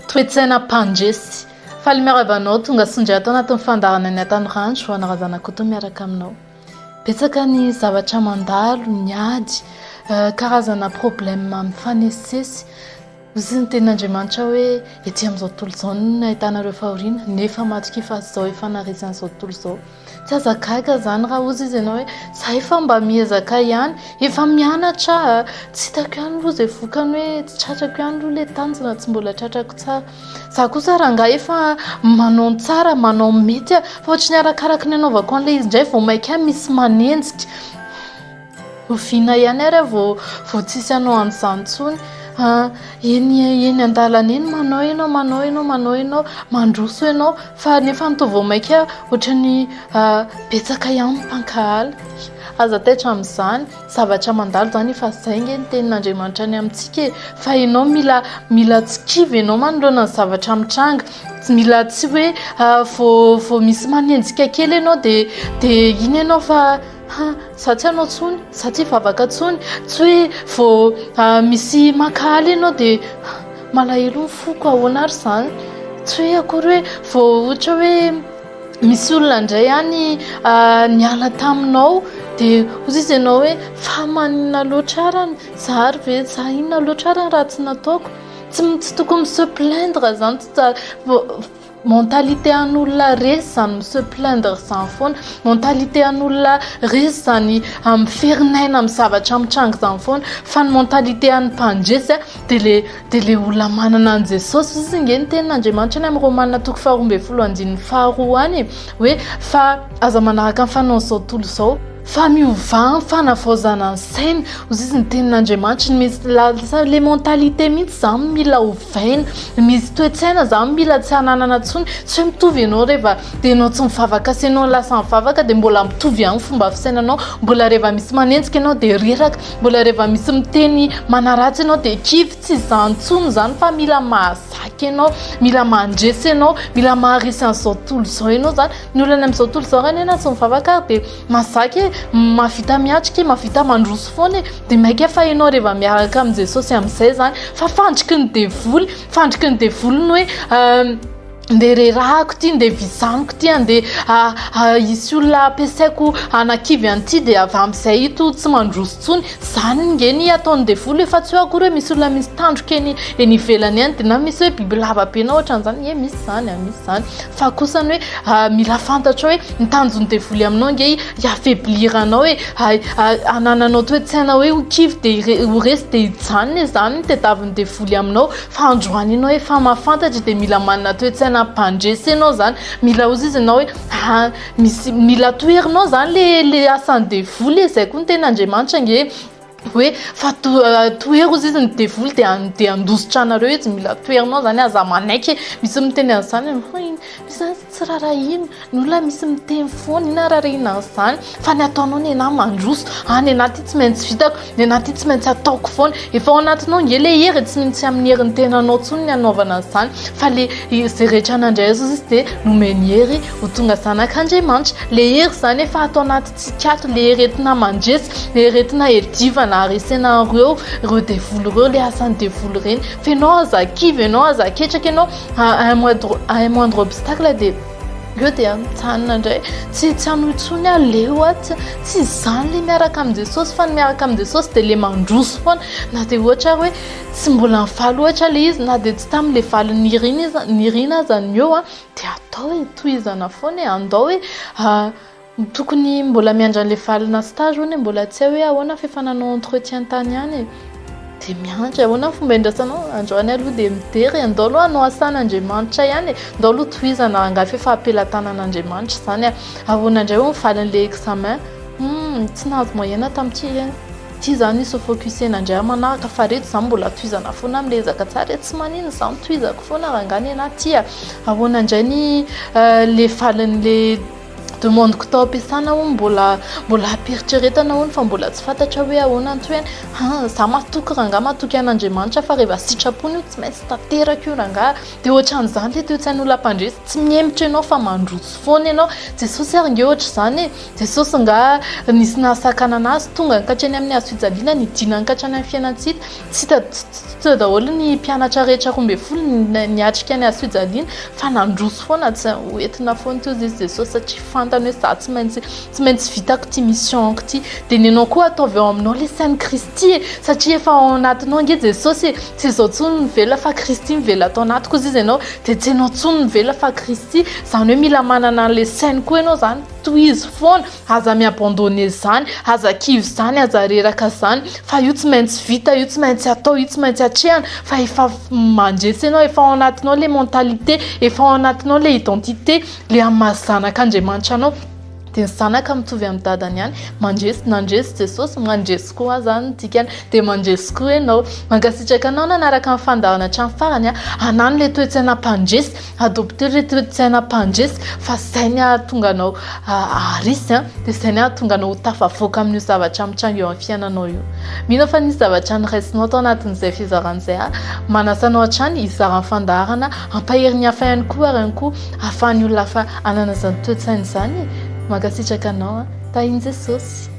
Toetsaina mpandresy. Faly miarahaba anao tonga sy indray ato anatin'ny fandaharana ny Atano Randro, anà Razanakoto miaraka aminao. Betsaka ny zavatra mandalo, ny ady, eh, karazana problema mifanesisesy. Misy ny tenin'Andriamanitra hoe ety amin'izao tontolo izao no ahitana ireo fahoriana, nefa matokia fa tsy izao hifanarezan'izao tontolo izao. Tsy aza gaga izany raha hozy izy ianao hoe izahay fa mba miezaka ihany, efa mianatra aho, tsy hitako ihany aloha izay vokany hoe tsy tratrako ihany aloha ilay tanjona, tsy mbola tratrako tsara. Izaho kosa rangahy efa manao ny tsara, manao ny mety aho fa ohatry ny arakaraky ny anaovako an'ilay izy indray vao mainka misy manenjika. Oviana ihany ary vao vao tsisy hanao an'izany intsony an, eny eny an-dalana eny manao ianao manao ianao manao ianao mandroso ianao fa nefa ny toa vao mainka ohatran'ny betsaka ihany ny mpankahala, aza taitra amin'izany, zavatra mandalo izany efa izay ange ny tenin'Andriamanitra ny amintsika e, fa ianao mila mila tsy kivy ianao manoloana ny zavatra mitranga, tsy mila tsy hoe vao vao misy manenjika kely ianao dia dia iny ianao fa. Ha, za tsy hanao tsony, za tsy hivavaka tsony, tsy hoe vao ah, misy maka aly ianao dia ah, malahelo ny foko, ahoana ary izany? Tsy hoe akory hoe vao ohatra hoe misy olona indray any ah, niala taminao dia hoy izy ianao hoe fa maninona loatra ary any, za ary ve, za inona loatra ary ny ratsy nataoko? Tsy, tsy tokony mi-se plaindre izany, tsy tsara. Vao- Mentalité an'olona resy izany mi se plaindre izany foana, mentalité an'olona resy izany miferinaina amin'ny zavatra mitranga izany foana fa ny mentalité an'ny mpandresy dia le dia le olona manana an'i Jesosy, hoy izy ange ny tenin'Andriamanitra any amin'ny Romana toko faharoa ambin'ny folo andininy faharoa any e, hoe fa aza manaraka ny fanaon'izao tontolo izao. Fa miovà ny fanavaozana ny saina, hoy izy ny tenin'Andriamanitra no misy lasa le mentalité mihitsy izany mila ovaina, misy toe-tsaina izany mila tsy hananana intsony, tsy hoe mitovy ianao rehefa dia ianao tsy mivavaka sy ianao lasa mivavaka dia mbola mitovy ihany ny fomba fisainanao, mbola rehefa misy manenjika ianao dia reraka, mbola rehefa misy miteny manaratsy ianao dia kivy, tsy izany intsony izany fa mila maha Vaky ianao, mila mandresy ianao, mila maharesy an'izao tontolo izao ianao izany. Ny olana amin'izao tontolo izao raha ny ahy na tsy mivavaka ary dia mahazaka e, mahavita miatrika e, mahavita mandroso foana e. Dia mainka fa ianao rehefa miaraka amin'i Jesosy amin'izay izany. Fa fandriky ny devoly, fandriky ny devoly ny hoe andeha rerahako ity, andeha vizaniko ity, andeha hisy olona ampiasaiko hanakivy an'ity dia avy amin'izay ito tsy mandroso intsony. Zany nge ny ataony devoly hoe fa tsy hoe akory hoe misy olona misy tandroka eny eny ivelany eny de na misy hoe biby lava be na ohatran'izany ie misy zany a misy zany fa kosa ny hoe mila fantatrao hoe ny tanjon'ny devoly aminao nge i affaiblir anao e hanananao toetsaina hoe ho kivy de ho resy de zany e zany ny tedaviny devoly aminao fa androany enao efa mahafantatra de mila manana toetsaina hampandresy enao zany mila ozy izy enao hoe misy mila toherinao zany le le asan'ny devoly le zay koa ny tena andriamanitra nge hoe fa tohero izy izy ny devoly de de handositra anareo izy mila toherinao zany aza manaiky misy miteny an'izany hoe iny misy zany tsy rarahina ny olona misy miteny foana ina rarahina an'izany fa ny ataonao ny anahy mandroso any anaty tsy maintsy vitako Ny anah ty tsy maintsy ataoko foana. Efa ao anatinao nge le hery e, tsy mino tsy amin'ny herin'ny tenanao tsony ny hanaovana an'izany fa le ze rehetra nandray azy izy de nomeny hery ho tonga zanak'Andriamanitra. Le hery izany efa ato anatintsika ato, le hery entina mandresy, le hery entina herijivana haresena an'ireo ireo devoly ireo, le asan'ny devoly ireny. Fa ianao aza kivy, ianao aza ketraka ianao, à un moindre obstacle dia Eo dia mijanona indray, tsy tsy hanao intsony aho, leo aho, tsy tsy izany ilay miaraka amin'i Jesosy fa ny miaraka amin'i Jesosy dia ilay mandroso foana, na dia ohatra ary hoe tsy mbola nivaly ohatra ilay izy, na dia tsy tamin'ilay valiny nirina iza- nirina aza ny eo dia atao e, tohizana foana e, andao e. Tokony mbola miandry an'ilay valona stage hono e, mbola tsy hay hoe ahoana fa efa nanao entretien tany ihany e, dia miandry ahoana ny fomba hiandrasanao, androany aloha dia midera e, andao aloha hanao asan'Andriamanitra ihany e, andao aloha tohizana angaha efa ampelatanan'Andriamanitra izany a, ahoana indray hono ny valin'ilay examen, humm tsy nahazo moyenne tamin'ity e, ity izany hisy ho focusena indray amin'ny manaraka fa reto izany mbola tohizana foana mila ezaka tsara e, tsy maninona izany tohizako foana rangahy nenaha ity a, ahoana indray ny le valin'ilay. Demande ko tao ampiasana hono mbola mbola ampiheritreretana hono fa mbola tsy fantatra hoe ahoana ny tohiny ha za matoky rangaha matoky an'Andriamanitra fa rehefa sitrapony io tsy maintsy tanteraka io rangaha de ohatran'izany le toe tsain'olona mpandresy tsy mihemotra ianao fa mandroso foana ianao Jesosy ary nge ohatr'izany e Jesosy nga nisy nahasakanana azy tonga hankatreany amin'ny hazo fijaliana nidina hankatreany amin'ny fiainantsika Tsy teo daholo ny mpianatra rehetra roa ambin'ny folo niatrika ny hazofijaliana fa nandroso foana, tsy ho entina foana teo izy Jesosy satria fantany hoe za tsy maintsy tsy maintsy vitako ity mission-ko ity. Dia nenao koa ataovy ao aminao ilay sain'i Kristy e, satria efa ao anatinao ange Jesosy e, tsy izaho intsony mivela fa Kristy mivela ato anatiko hozizy ianao, dia tsy ianao intsony mivela fa Kristy, izany hoe mila manana an'ilay sainy koa ianao izany, tohizo foana. Aza mi-abandonner izany, aza kivy izany, aza reraka izany fa io tsy maintsy vita, io tsy maintsy atao, io tsy maintsy atrehina fa efa mandresy anao, efa ao anatinao ilay mentalité, efa ao anatinao ilay identité, ilay amin'ny maha zanak'Andriamanitra anao dia ny zanaka mitovy amin'ny dadany ihany, mandresy, nandresy Jesosy, mandresy koa aho, izany no dikany, dia mandresy koa ianao. Mankasitraka anao nanaraka ny fandahana hatramin'ny farany, hanano ilay toe-tsaina mpandresy. Adopter ry reto tsy haina mpandresy fa izay ny hahatonga anao haharesy an, dia izay ny hahatonga anao ho tafavoaka amin'io zavatra mitranga eo amin'ny fiainanao io. Mino aho fa nisy zavatra noraisinao tao anatin'izay fizarana izay aho. Manasa anao hatrany hizara ny fandaharana, hampahery ny hafa ihany koa ary ihany koa hahafahan'ny olona hafa hanana izany toe-tsaina izany e. Mankasitraka anao an. Tahin'i Jesosy.